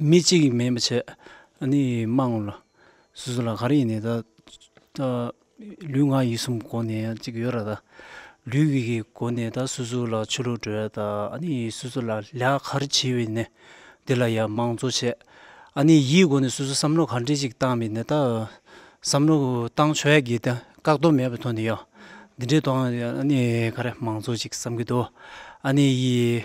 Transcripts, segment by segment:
མི་གཅིག་ཡིན་མིན་པ་ཆེད་ནས་དམངས་གླུ་སུ་སུ་ལ་ག་རེ་ཡིན་ནས་ད་ལུས་ངག་ཡིད་གསུམ་སྒོ་ནས་གཅིག་ཡོད་ར་ད་ལུས་ཀྱི་སྒོ་ནས་ད་སུ་སུ་ལ་ཆོས་ལུགས་བྲོས་ད་ཨ་ནི་སུ་སུ་ལ་ལས་ཀ་རེ་བྱེད་འི་ནས་འདི་ལ་ཡང་མང་གཙོ་བྱས་ཨ་ནི་ཡིད་སྒོ་ནས་སུ་སུ་བསམ་བློ་ག་འདྲེ་ཅིག་བཏང་འི་ནས་ད་བསམ་བློ་བཏང་ཆོས་ཡག་གི་ད་བཀག་རྡོ་མེད་པའི་ཐོག་ནས་ཡང་འདི་འདྲེ་བཏང་ཨ་ནི་ག་རེ་མང་གཙོ་ཅིག་བསམ་གི་འདུག་ཨ་ནི་ཡིས།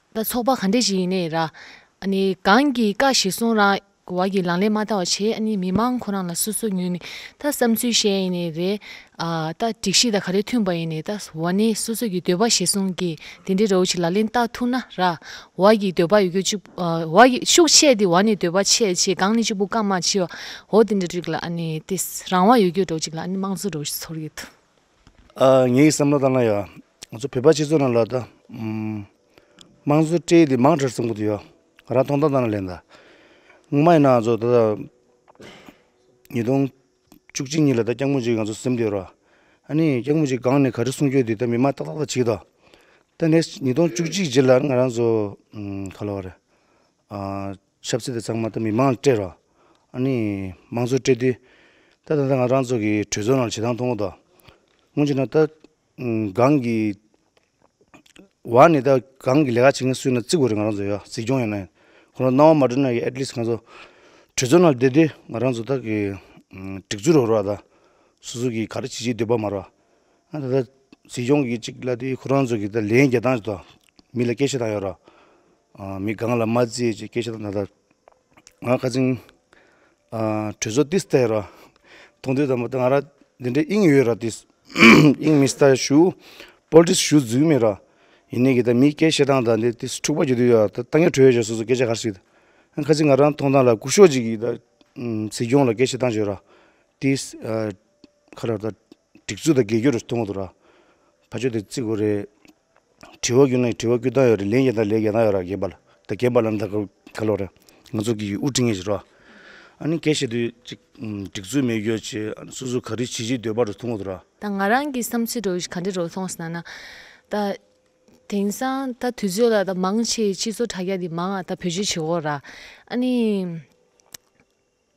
ལ་ཚོགས་པ་ག་འདྲས་ཞིག་ཡིན་ནའི་ར། གང་གི་བཀའ་ཞིག་གསུང་རང་བ་གི་ལང་ལས་མ་བལྟ་བ་ཆེ་ཨ་ནི་མི་མང་ཁོ་རང་ལ་སོ་སོ་ཉུལ་ནས་ད་བསམ་ཚུལ་བཤད་ཡིན་ནའི་རེད། ད་སྒྲིག་གཞི་དང་ག་རེ་མཐུན་པ་ཡིན་ནའི་ད་བ་ནི་སོ་སོ་གི་འདོད་པ་ཞིག་གསུང་གི་དེ་འདྲའི་རོའུ་ཆི་ལ་ལན་བཏགས་ཐུག་ན་ར། བ་གི་འདོད་པ་ཡོད་གི་གཅིག་བ་གི་ཤུགས་ཆེ་དེ་བ་ནི་འདོད་པ་ཆེ་ཆེ་གང་ནི་གཅིག་པུ་བཀའ་མ་ཕྱི་བ་འོ་དེ་འདྲ་རིགས་ལ་ཨ་ནི་དེ་རང་བ་ཡོད་གི་འགྲོ་གཅིག་ལ་ཨ་ནི་དམངས་གཙོ་འགྲོ་ཚོར་གི་ཐུག། ངའི་བསམ་བློ་ལྟར་ན་ཡང་ང་ཚོ་བོད་པ་སྤྱི་ཚོགས་ནང་ལ་དང་དམངས་གཙོ་སྤྲེལ་དེ་མང་གྲས་ཚུན་དགུ་དུ་ཡོད་ང་རང་ཐོང་ཐང་ཐང་ལ་ལན་དང་ངོ་མ་ཡིན་ན་ང་ཚོ་ད་ལྟ་ཉིས་སྟོང་བཅུ་གཅིག་ཉིན་ལ་ད་སྐྱག་མོ་གཅིག་ང་ཚོ་སེམས་སྡོད་རོགས་ཨ་ནི་སྐྱག་མོ་གཅིག་སྒང་ནས་ག་རེ་གསུང་རྒྱུ་དེ་ད་མི་མང་ཏག་ཏག་ཏག་བྱེད་དོ་ད next ཉིས་སྟོང་བཅུ་གཅིག་རྗེས་ལ་ང་རང་ཚོ་ག་ལ་བ་རེད་ཆབ་སྲིད་དེ་ཚང་མ་ད་མི་མང་ལ་སྤྲད་རོགས། ཨཱ་ནི། མང་གཙོ་སྤྲད་དུས། ད་ད་ད་ང་རང་ཚོ་གི་གྲོས་ཚོགས་ནང་ལ་བྱེད་སྟངས་མཐོང་གོ་ད། སྔོན་ཆད་ན་ད། སྒང་གི། བ་ནི་ད་སྒང་གི་ལས་ཀ་བྱེད་མཁན་སུ་ཡིན་ན་བརྩི་དགོས་རེད་ང་རང་ཚོ་ཡ་གཟིགས་སྐྱོང་ཡོད་ན་ཡིན། ཁོ་རང་སྣང་བ་མ་སྤྲོད་ན་ཡི་ཨེཏ་ལིས་ང་ཚོ། གྲོས་ཚོགས་ནང་ལ་བསྡད་དུས་ང་རང་ཚོ་ད་གི། སྒྲིག་འཛུགས་རོགས་རོགས་ད། སོ་སོ་གི་ག་རེ་བྱེད་ཀྱི་འདོད་པ་མ་རོགས། ཨ་ད་ད། གཟིགས་སྐྱོང་གི་ཅིག་ལབ་དུས་ཁོ་རང་ཚོ་གི་ད་ལན་རྒྱལ་ཐང་ཆེ་ད། མི་ལ་སྐད་བཤད་སྟངས་ཡོད་རོགས། མི་གང་ལ་མ་བརྩིས་ཀྱི་སྐད་ཆ་དང་ད་ལྟ་ང་ཁ་ཆེམས་གྲོས་ཚོགས་འདི་ལྟར་ར་ཐུང་དུས་དང་པོ་ཏི་ང་ར་འདི་འདྲའི་དབྱིངས་ཡོད་ར་ཏིས་དབྱིངས་མི་ལྟར་ཞུ Politics ཞུ་རྫུན་མེད་ར་ཡིན་ནའི་གི་ད་མིའི་སྐད་བཤད་སྟངས་དང་འདི་ཏིས་འཁྲུག་པ་རྒྱུ་དུས་ཡོད་ར་ད་ཏང་གི་གྲོས་ཆོད་སོ་སོ་སྐད་ཆ་ག་ར་ཞིག་ད་ཁ་ཆེམས་ང་ར་མཐོང་སྟངས་ལ་ཀུ་ཤོག་ཅིག་གིས་ད་སྲིད་སྐྱོང་ལ་སྐད་བཤད་སྟངས་བྱོས་ར་ཏིས་ཁ་ར་ད་སྒྲིག་འཛུགས་དང་རྒས་གྱུར་ཐུང་ངུ་དུ་ར་ཕ་ཆོས་དེ་བརྩི་དགོས་རེད། དྲི་བ་ཀུན་ལ་དྲི་བ་ཀུན་བཏང་ཡོད་རེད་ལན་བརྒྱ་དང་ལན་བརྒྱ་བཏང་ཡོད་ར་རྒན་པ་ལ་ད་རྒན་པ་ལ་ད་ག་ག་ལོག་རེད་ང་ཚོ་གིས་དབུ་འཁྲིད་ངེས་ཞིག་རོགས་ཨ་ནི་གལ་སྲིད་དུ་ཅིག་སྒྲིག་འཛུགས་མེད་ཡོད་ཆེ་སུ་སུ་ག་རི་བྱེད་ཀྱི་འདོད་པ་རུ་ཐུང་ངོ་ཐུ་ར། ད་ང་རང་གི་བསམ་ཚུལ་རོ་ག་འདྲི་རོགས་ཐོང་སྣ་ན། ད་དེང་སང་ད་དུས་ཚོད་ལ་ད་མང་ཆེ་སྤྱི་ཚོགས་དྲ་རྒྱ་འདི་མང་ཨ་ད་བོད་སྤྱི་བྱེད་འོག་ར་ཨ་ནི།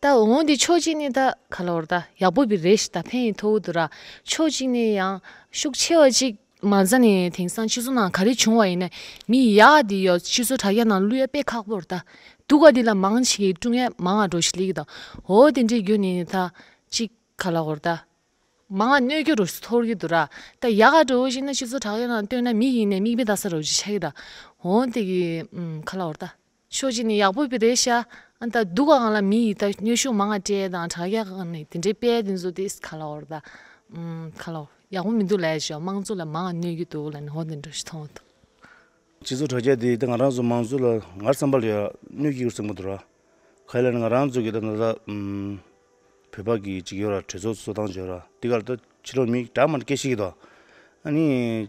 ད་འོང་དེ་ཕྱོགས་གཅིག་ནས་ད་ག་ལ་བར་ད་ཡག་པོ་བི་རེད་ཤི་ད་ཕན་ཡི་ཐོ་བུ་དུ་ར་ཕྱོགས་གཅིག་ནས་ཡང་ཤུགས་ཆེ་བ་ཅིག་མ་ཛ་ནས་དེང་སང་སྤྱི་ཚོགས་ནང་ག་རེ་བྱུང་བ་ཡིན་ན་མི་ཡག་དེ་ཡོག་སྤྱི་ཚོགས་དྲ་རྒྱ་ནང་གླུ་ཡ་དཔེ་ཁག་པོར་ད་འདུག་ག་དེ་ལ་མང་ཆེ་གི་ཀྲུང་ཡ་མང་ང་འགྲོ་ཤི་ལེ་གི་ད་འོ་དེ་འདྲའི་རྒྱུ་ནས་ད་ཅིག་ག་ལ་བར་ད་མང་ང་གནོད་རྒྱུ་རུ་སི་ཐོར་གི་དུ་ར་ད་ཡག་ག་འགྲོ་ཤི་ན་སྤྱི་ཚོགས་དྲ་རྒྱ་ནང་སྟོན་ན་མི་ཡིན་ནས་མིག་མི་ད་ས་རུ་ཤི་ཆ་གི་ད་འོ་དེ་གི་ག་ལ་བར་ད། ཕྱོགས་གཅིག་ནས་ཡག་པོ་རེད་ཤག་ཨང་ད་སྡུག་ག་ང་ལ་མི་ཡི་ད་སྙོད་ཤུགས་མང་ང་དྲས་དང་དྲག་ཡག་ག་ནས་དེ་འདྲའི་དཔལ་དེ་ཚོ་དེས་ག་ལ་འོར་ད་ག་ལ་ཡག་པོ་མི་འདུག་ལས་ཤོག་དམངས་གཙོ་ལ་མང་ང་གནོད་ཀྱི་འདུག་ལ་ནི་འོ་དེ་འདྲ་ཞིག་མཐོང་བ་འདུག། སྤྱི་ཚོགས་དྲ་རྒྱ་དེས་ད་ང་རང་ཚོ་མང་གཙོ་ལ་ངར་བསམ་པ་ལ་ཡང་གནོད་ཀྱི་ཡོད་སེམས་པ་འདུག་ར་ག་ཡིན་ལ་ནི་ང་རང་ཚོ་གི་ད་ད་ད་བོད་པ་གི་གཅིག་ཡོད་ར་གྲོས་ཚོགས་གཙོ་སྟངས་བྱོས་ར་དེ་ག་ལ་ད་ཕྱི་ལོ་མིག་གྲགས་མ་དཀྱེལ་ཤེས་ཀྱི་འདུག་ཨ་ནི།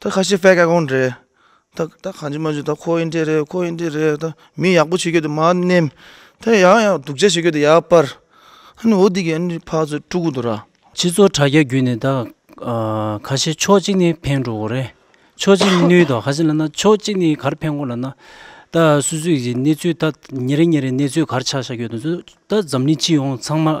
ད་ཁ་ཤས་ཕལ་སྐད་ཁོང་འདྲེ་ད་ད་གང་བྱུང་མ་བྱུང་ད་ཁོ་ཡིན་འདྲེ་རེད་ཁོ་ཡིན་འདྲེ་རེད་ད་མི་ཡག་པོ་བྱེད་རྒྱུ་དེ་མ་ནེམ་ད་ཡང་ཡང་ཡང་སྡུག་ཅག་བྱེད་རྒྱུ་དེ་ཡར་སྤར་ཧ་ནི་འོ་འདི་གི་ཨ་ནི་ཕག་ཚོད་དཀྲུག་གི་འདུག་ར། ཕྱི་ཚོ་དྲ་རྒྱ་བརྒྱུད་ནས་ད་ཁ་ཤས་ཕྱོགས་གཅིག་ནས་ཕན་འགྲོ་གི་རེད་ཕྱོགས་གཅིག་ནས་ནུས་ཏོ་ཧ་ཅང་ལ་ན་ཕྱོགས་གཅིག་ནས་གར་ཕན་གོ་ལ་ན་ད་སུ་སུ་ཡི་གནས་ཚུལ་ད་ཉེ་རེ་ཉེ་རེ་གནས་ཚུལ་གར་ཆགས་ཆགས་ཡོད་དུ་ད་འཛམ་གླིང་སྤྱི་ཡོངས་ཚང་མ་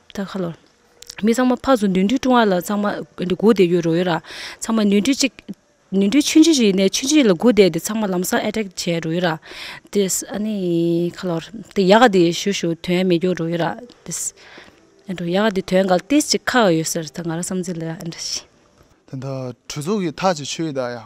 ད་ག་ལོར། མི་ཚང་མ་ཕག་སུ་ནུས་མཐུ་དཀྲུང་བ་ལ་ཚང་མ་སྒུག་བསྡད་ཡོད་རོགས་ཡོད་ར། ཚང་མ་ནུས་མཐུ་གཅིག། ནུས་མཐུ་ཆུན་ཆུ་ཞིག་ཡིན་ནས་ཆུན་ཆུ་ཡིན་ལ་སྒུག་བསྡད་དེ་ཚང་མ་ལམ་སང་ཨེ་ཏྲེ་བྱས་རོགས་ཡོད་ར། དེས་ཨ་ནི། ག་ལོར། དེ་ཡག་ག་དེ་ཞུ་ཞུ་དོན་མེད་སྐྱོར་རོགས་ཡོད་ར། དེས། ཨེ་འགྲོ་ཡག་ག་དེ་དོན་ག་ཏིས་ཅིག་ཁག་ཡོད་ཟེར་ད་ང་རང་བསམ་ཚུལ་ལ་ཨེ་འདྲ་ཞིག། དེ་འདྲ་གྲོས་ཚོགས་ཀྱི་ཐག་ཅིག་ཆོད་ཡོད་ད་ཡ།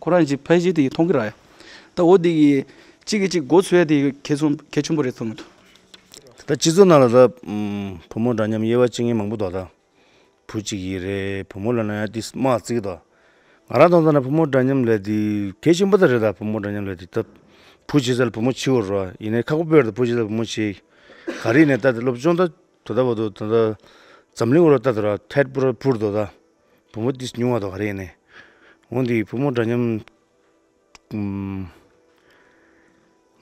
ཁོ་རང་གཅིག་ཕལ་ཆེར་དེ་མཐོང་གི་ར་ཡ། ད་འོ་དེ་གི་གཅིག་གི་གཅིག་མགོ་འཚོས་དེ་གལ་ཆུང་གལ་ཆུང་པོ་རེད་ཐོན་གི་འདུག། ད་སྤྱི་ཚོགས་ནང་ལ་ད་བུ་མོ་འདྲ་མཉམ་དབྱེ་བ་བཅིང་མཁན་མང་པོ་འདུག་ད། བུ་གཅིག་ཡིན་རེད་བུ་མོ་ལ་ན་ཡང་དེ་སྨྲ་བརྩི་གི་འདུག། ང་རང་མཐོང་ཙམ་ན་བུ་མོ་འདྲ་མཉམ་ལས་དེ་གལ་ཆེན་པོ་ད་རེད་ད་བུ་མོ་འདྲ་མཉམ་ལས་དེ་ད། བུ་བྱེད་ས་ལ་བུ་མོ་བྱིའོ་རོགས་ཨ་ཡིན་ནའི་ཁག་པོ་དཔེར་ད་བུ་བྱེད་ས་ལ་བུ་མོ་བྱེད། ག་རེ་ཡིན་ནའི་ད་དེ་སློབ་སྦྱོང་ད་དོ་ད་བ་དོ་ད་ད་འཛམ་གླིང་འོག་ར་ད་དོ་ར་ཐད་པོ་ར་འཕུར་དོ་ད། བུ་མོ་དེ་ཉུང་བ་དག་རེད་ནས་འོན་ཏེ་བུ་མོ་འདྲ་མཉམ།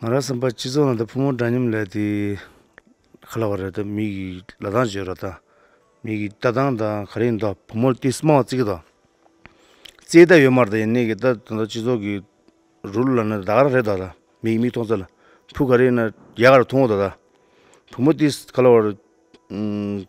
ང་རང་བསམ་པ་སྤྱི་ཚོགས་ནང་དུ་བུ་མོ་འདྲ་མཉམ་ལས་དེ་ག་ལ་བ་རེད་དམ་མིག་གིས་ལ་ལྡང་བྱེད་རོགས་དང། མིག་གིས་ལྟ་སྟངས་དང་ག་རེ་ཡིན་དོ་བུ་མོ་དེ་སྨྲ་བ་གཙིགས་དང། རྩེད་ལྟ་ཡོད་མ་རེད་ད་ཡིན་ནའི་གི་ད་ད་ལྟ་སྤྱི་ཚོགས་ཀྱི་རུ་ལ་ནི་ད་ག་རེད་ད་ད་མིག་མིག་མཐོང་ཚད་ལ་བུ་ག་རེ་ཡིན་ན་རྒྱ་གར་མཐོང་ངོ་ད་ད་བུ་མོ་དེ་ག་ལ་བ་རེད།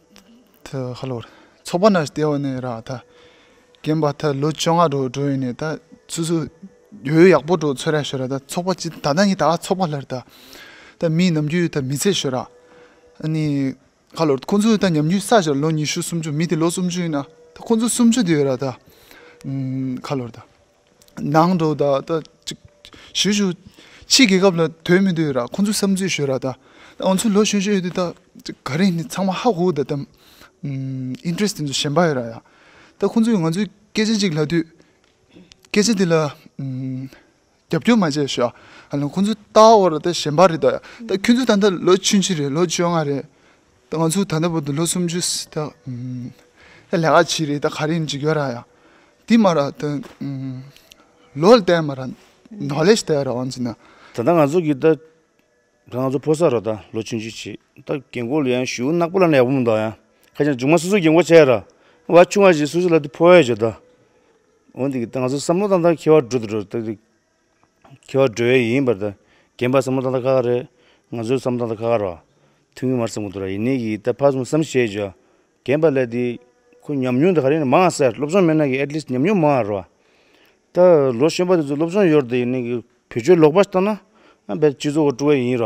ཚོགས་པ་རྣམས་ལྟེ་བ་ནས་རག་ད་གན་པ་ད་ལོ་བཅོ་ལྔ་འགྲོ་འགྲོ་ཡིན་ད་སུ་སུ་ཡོད་ཡག་པོ་འགྲོ་ཚོད་ར་ཤོད་ར་ད་ཚོགས་པ་ཅི་ད་ལྟ་ནི་ད་ཚོགས་པ་ལྷར་ད་མི་ནམ་རྒྱུན་ད་མི་ཚེ་ཤོད་ར་ཨནི་ཁ་ལོར་ཁོང་ཚོ་ད་ཉམས་རྒྱུན་ས་ཞོར་ལོ་ཉི་ཤུ་སུམ་ཅུ་མི་དེ་ལོ་སུམ་ཅུ་ཡིན་ན་ཁོང་ཚོ་སུམ་ཅུ་དེ་ཡོད་ར་ད་ཁ་ལོར་ད། ནང་དུ་ད་ལྟ་ཞུ་ཞུ་ཕྱི་རྒྱལ་ཁབ་ལ་དོན་མི་དོན་ར་ཁོང་ཚོའི་བསམ་ཚུལ་ཞུ་ར་ད་ང་ཚོའི་ལོ་གཞོན་གཞོན་ཡོད་དུས་ད་ག་རེ་ཚང་མ་ཧ་གོ་ད་ད interest དེ་ཚོ་ཞན་པ་ཡོད་ར་ཡ་ད་ཁོང་ཚོས་ང་ཚོའི་སྐད་ཆ་གཅིག་ལབ་དུས་སྐད་ཆ་དེ་ལ་རྒྱབ་སྐྱོར་མ་བྱས་ཤོག་ཨ་ལ་ཁོང་ཚོའི་ལྟ་བ་འོག་ལ་ད་ཞན་པ་རེད་ད་ཡ་ད་ཁྱོད་ཚོ་ད་ལོ་ཕྱི་ཕྱི་རེད་ལོ་བཅོ་ལྔ་རེད། ད་ང་ཚོ་ད་ལྟ་བུ་དུ་ལོ་སུམ་ཅུ་སི་ད། ད་ལས་ཀ་བྱེད་རེས་ད་ག་རེ་འཇིག་ཡོད་ར་ཡ། དེ་མ་ར་ད། ལོ་ལ་དད་མ་ར་ནོ་ལེ་ཞི་དད་ར་ཝང་ཅི་ན། ད་ད་ང་ཚོ་གི་ད། ད་ང་ཚོ་ཕོ་སར་ར་ད་ལོ་ཆུང་ཆུ་ཆི་ད་རྒན་གོ་ལ་ཡ་ཞུ་ནག་པོ་ལ་ན་ཡག་པོ་མི་འདུག་ཡ། ཁ་ཆེ་ན་ཇུག་མ་སུ་སུ་རྒན་གོ་ཆེ་ར། བ་ཆུང་བ་ཞིག་སུ་སུ་ལ་དུ་ཕོ་ཡ་ཞུ་ད། འོན་ཏེ་གི་ད་ང་ཚོ་བསམ་བློ་དང་ད་ཁེ་བ་འགྲོ་དུ་འགྲོ་ད། ཁྱོད་བགྲོད་ཡས་ཡིན་པར་ད་གན་པ་སམ་མོ་ད་ད་ཁ་ཁ་རེད་ང་ཚོའི་སམ་མོ་ད་ད་ཁ་ཁ་ར། ཐུགས་ངུ་མར་སེ་མོ་ད་ར་ཡིན་ནི་གི་ད་ཕ་སམ་སམ་བྱས་བྱས། གན་པ་ལས་དེ་ཁོ་ཉམས་མྱོང་དེ་ག་རེ་ཡིན་མང་སེ་སློབ་སྦྱོང་མེད་ན་གི atleast ཉམས་མྱོང་མང་ར། ད་ལོ་གཞོན་པ་དེ་ཚོ་སློབ་སྦྱོང་ཡོད་ར་དེ་ཡིན་ནི་གི་བོད་ཆོས་ལོག་པ་ཞིག་བཏང་ན་ཨ་འབད་སྤྱི་ཚོགས་སྤྲོ་བས་ཡིན་ར།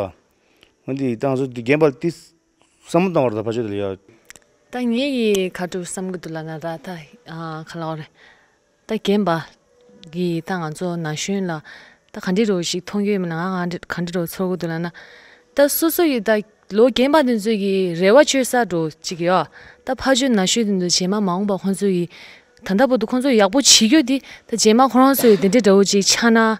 འོན་ཏེ་ད་ང་ཚོ་དེ་གན་པ་དེ་སམ་མོ་བཏང་བ་ར་ད་ཕ་ཆོས་དེ་ལ་ཡ། ད་ངས་གི་ཁ་དྲུག་བསམ་གི་འདུག་ལ་ང་ད་ད་ཁ་ལག་རེད། ད་རྒན་པ། གི་ད་ང་ཚོ་ན་གཞོན་ལ། ད་ག་འདྲི་རོགས་ཞིག་མཐོང་རྒྱུ་ཡོད་མེད་ལ་ང་ག་འདྲི་ག་འདྲི་རོགས་ཚོར་གི་འདུག་ལ་ན། ད་སོ་སོ་ཡི་ད་ལོ་རྒན་པ་དེ་ཚོའི་གི་རེ་བ་ཆོད་ས་འགྲོ་ཅིག་གི་ཨོ། ད་ཕ་ཆོས་ན་གཞོན་དེ་ཚོ་བྱེ་མ་མ་འོངས་པ་ཁོང་ཚོའི་གི། ད་ལྟ་བུ་དུ་ཁོང་ཚོ་ཡག་པོ་བྱེད་རྒྱུ་དེ་ད་བྱེ་མ་ཁོ་རང་ཚོའི་དེ་འདྲའི་འདྲ་བོ་ཅིག་ཆགས་ན།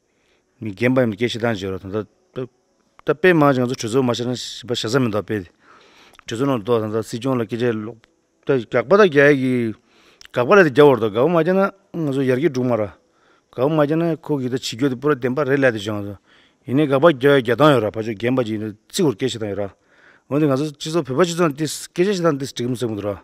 རྒན་པ་ཡིན་པའི་སྐད་ཆ་དང་བཞི་རོ་ད་ལྟ་ད་དཔེ་མང་ཞིང་ང་ཚོ་གྲོས་ཚོགས་མ་ཤར་ན་ཞེས་པ་ཞེ་ས་མི་འདུག་དཔེ་དེ་གྲོས་ཚོགས་ནང་འདུག་ད་ལྟ་སྲིད་སྐྱོང་ལ་སྐད་ཆ་ལོག་ད་དགག་པ་དང་རྒྱ་ཡིག་གི་དགག་པ་ལས་དེ་རྒྱབ་བར་འདུག་དགག་པ་མ་རྒྱབ་ན་ང་ཚོ་ཡར་རྒྱས་འགྲོ་གི་མ་རེད་དགག་པ་མ་རྒྱབ་ན་ཁོ་གིས་ད་བྱེད་རྒྱུ་དེ་པུ་ར་བདེན་པ་རེད་ལད་དུ་བྱུང་སོང་ཡིན་ནའི་དགག་པ་རྒྱབ་ཡ་རྒྱ་སྟངས་ཡོད་ར་ཕ་ཆོས་རྒན་པ་ཅིག་ཡིན་ན་བརྩི་བར་སྐད་ཆ་དང་ཡོད་ར་འོན་ཏེ་ང་ཚོ་སྤྱི་ཚོགས་བོད་པ་སྤྱི་ཚོགས་ནང་འདི་སྐད་ཆ་ཞིག་དང་འདི་འགྲིག་གི་མི་འདུག་ར་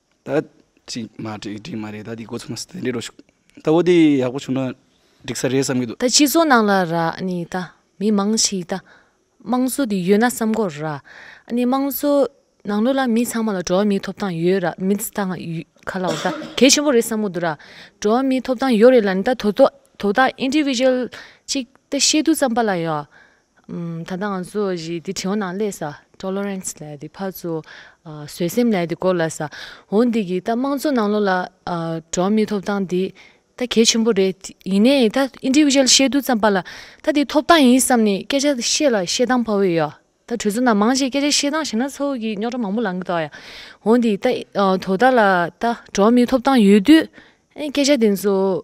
ད་ཅིག་མ་བསྒྲིགས་བསྒྲིགས་མ་རེད་ད་འདི་འགོ་ཚུགས་ན་དེ་འབྲི་རོགས་ཞུ། ད་བོ་དེ་ཡག་པོ་བྱུང་ན་འགྲིག་ས་རེད་བསམ་གྱི་འདུག། ད་སྤྱི་ཚོགས་ནང་ལ་ར་ནི་ད་མི་མང་ཞིག་ད་དམངས་གཙོ་དེ་ཡོད་ན་བསམ་གོ་ར། ནི་དམངས་གཙོ་ནང་ལོ་ལ་མི་ཚང་མ་ལ་འགྲོ་བ་མིའི་ཐོབ་ཐང་ཡོད་ར་མི་ཚ་ང་ག་ལ་བ་ད་གལ་ཆེན་པོ་རེད་བསམ་གོ་འདུག་ར། འགྲོ་བ་མིའི་ཐོབ་ཐང་ཡོད་རེད་ལ་ནི་ད་དོ་དོ་དོ་ད individual གཅིག་ད་ཤེས་རྡུགས་ཙམ་པ་ལ་ཡ། ད་ལྟ་ང་ཚོ་ཡི་འདི་བྲིའོ་ནང་ལས་ས Tolerance ལས་འདི་ཕར་ཚུར་བཟོད་སེམས་ལས་འདི་སྐོར་ལ་ས་འོ་འདི་གི་ད་དམངས་གཙོ་ནང་ལོ་ལ་འགྲོ་མི་ཐོབ་ཐང་འདི་ད་གལ་ཆེན་པོ་རེད་ཡིན་ནའི་ད Individual བཤད་དུས་ཙམ་པ་ལ་ད་འདི་ཐོབ་ཐང་ཡིན་བསམ་ནས་སྐད་ཆ་བཤད་ལ་བཤད་སྟངས་བོ་ཡོ་ད་གྲོས་ཚོགས་ནང་མང་ཞིག་སྐད་ཆ་བཤད་སྟངས་བྱས་ན་ཚོ་གི་རྙོག་དྲ་མང་པོ་ལང་གི་འདུག་ཡ་འོ་འདི་ད་དོ་ད་ལ་ད་འགྲོ་མི་ཐོབ་ཐང་ཡོད་དུས་ཨེ་སྐད་ཆ་འདི་ཚོ་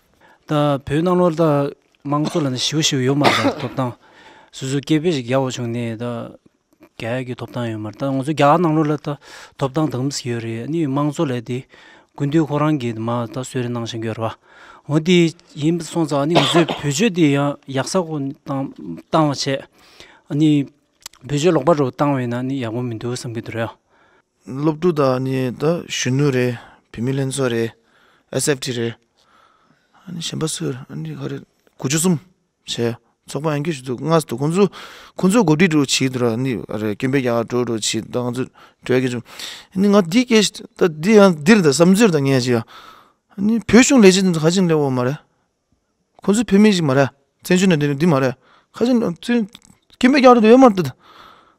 ད་བོད་ནང་ལོར་ད་དམངས་གཙོ་ལ་ནི་ཞི་བ་ཞིག་ཡོད་མ་རེད་ད་ཐོབ་ཐང་སོ་སོའི་སྐད་དཔེ་ཞིག་རྒྱག་བ་བྱུང་ནས་ད་རྒྱ་ཡག་གི་ཐོབ་ཐང་ཡོད་མ་རེད་ད་ང་ཚོ་རྒྱ་གར་ནང་ལོར་ལ་ད་ཐོབ་ཐང་དང་པོ་ཡོད་རེད་ནི་དམངས་གཙོ་ལས་དེ་དགུན་དུས་ཁོ་རང་གིས་མ་ད་གསོལ་རས་གནང་བཞིན་ཡོད་རེད་བ་འོ་དེ་ཡིན་པ་སོང་ཙང་ནི་ང་ཚོའི་བོད་ཆོས་དེ་ཡང་ཡག་ས་ཁོ་ནི་བཏང་བཏང་བ་བྱས་ནི་བོད་ཆོས་ལོག་པ་རུ་བཏང་བས་ན་ནི་ཡག་པོ་མི་འདུག་བསམ་གྱི་འདུག་རེད་སློབ་ཕྲུག་དག་ནི་ད་གཞོན་ནུ་རེད་བུད་མེད་ལྷན་ཚོགས་རེད SFT རེད་ཨ་ནི་གཞན་པ་སུ་རེད་ཨ་ནི་ག་རེད་དགུ་བཅུ་གསུམ་བྱས་ཚོགས་པ་ཡང་སྐྱོ་ཤི་འདུག་སྔར་དུ་ཁོང་ཚོ་ཁོང་ཚོ་གོ་སྒྲིག་འགྲོ་བྱེད་འདུག་ནི་ཨ་རེད་སྐྱོན་པའི་རྒྱ་གར་འགྲོ་འགྲོ་བྱེད་ད་ང་ཚོ་གྲོས་ཀྱི་འབྱུང་ཨ་ནི་ང་འདི་སྐད་ད་འདི་ཡང་འདིར་ད་བསམ་ཚུལ་ད་ངས་ཅི་ཡང་ཨ་ནི་བོད་གཞུང་ལས་བྱེད་འདི་ག་ཅིག་ལས་འོག་མ་རེད་ཁོ་ཚོ་བོད་མི་ཞིག་མ་རེད་བཙན་བྱོལ་ནང་བསྡད་ནི་འདི་མ་རེད་ཁ་ཆེ་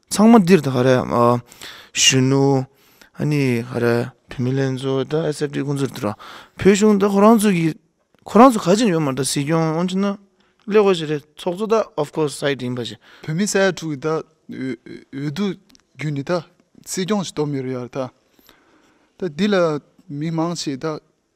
ཚང་མ་འདིར་ག་རེ་གཞོན་ནུ་ཨ་ནི་ག་རེ་བུད་མེད་ལྷན་ཚོགས་ད་ཨེ་སེ་ཀོ་ཚོ་འདིར་འགྲོ་བོད་གཞུང་ད་ཁོ་རང་ཚོ་གི་ཁོ་རང་ཚོ་ག་ཆེ་ཡོད་མ་རེད་སྲིད་སྐྱོང་ཨང་ཆེ་ན་ཀླད་ཀོར་ཞིག་རེད་ཚོགས་གཙོ་ད་ཨོབ་ཀོ་སའི་དེ་ཡིན་པ་ཞིག། བོད་མི་ས་ཡ་དྲུག་གི་ད་འོས་བསྡུ་བརྒྱུད་ནི་ད་སྲིད་སྐྱོང་ཞིག་གཏོགས་མི་རེད་ཡ་རེད་ད་འདི་ལ་མི་མང་ཆེ་ད།